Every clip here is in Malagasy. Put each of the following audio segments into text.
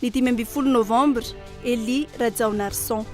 Ny dimy ambin'ny folo novambra, Elie Rajaonarison.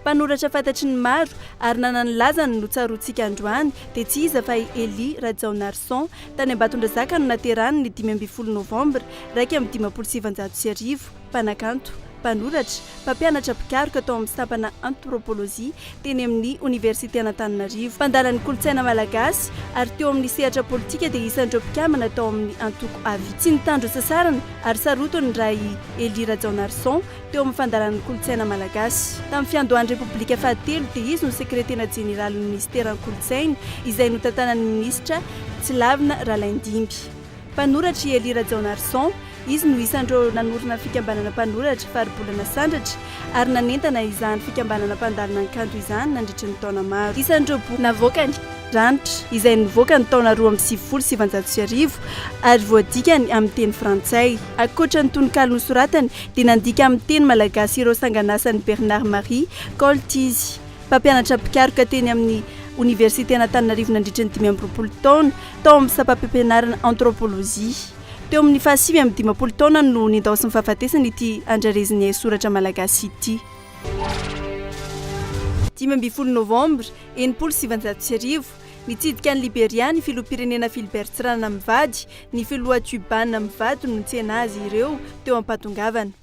Mpanoratra fantatry ny maro ary nanana ny lazany no tsaroantsika androany dia tsy iza fa i Elie Rajaonarison, tany Ambatondrazaka no naterany ny dimy ambin'ny folo novambra iraika amby dimampolo sy sivinjato sy arivo. mpanakanto, mpanoratra, mpampianatra mpikaroka tao amin'ny sampana Anthropologie teny amin'ny Oniversiten'Antananarivo, mpandala ny kolontsaina malagasy ary teo amin'ny sehatra politika dia isan'ireo mpikambana tao amin'ny antoko Avis. Tsy nitandro sasarana ary sarotiny ny ra i Elie Rajaonarison teo amin'ny fandalana ny kolontsaina malagasy. Tamin'ny fiandohan'ny Repoblika fahatelo dia izy no sekretena jeneralin'ny minisiteran'ny kolontsaina izay notantanan'ny minisitra Tsilavina Ralaindimby. Mpanoratra i Elie Rajaonarison. Izy no isan'ireo nanorina fikambanana mpanoratra, Faribolana Sandratra, ary nanentana izany fikambanana mpandalina ny kanto izany nandritry ny taona maro. Isan'ireo boky navoakany, Ranitra, izay nivoaka ny taona roa amby sivifolo sy sivanjato sy arivo ary voadikany amin'ny teny frantsay. Ankoatra ny tononkalo nosoratany, dia nandika amin'ny teny malagasy ireo sangan'asan'i Bernard Marie Koltz izy. Mpampianatra mpikaroka teny amin'ny Oniversiten'Antananarivo nandritra ny dimy amby roapolo taona tao amin'ny sampam-pampianarana Antrôpôlôjia. Teo amin'ny fahasivy amby dimampolo taona no nendaosin'ny fahafatesana ity andrarezin'ny haisoratra malagasy ity. Dimy ambin'ny folo Novambra enimpolo sy sivinjato sy arivo, nitsidika an'i Liberia ny Filoham-pirenena Philbert Tsiranana mivady, ny Filoha Cubana mivady no nitsena azy ireo teo am-pahatongavana.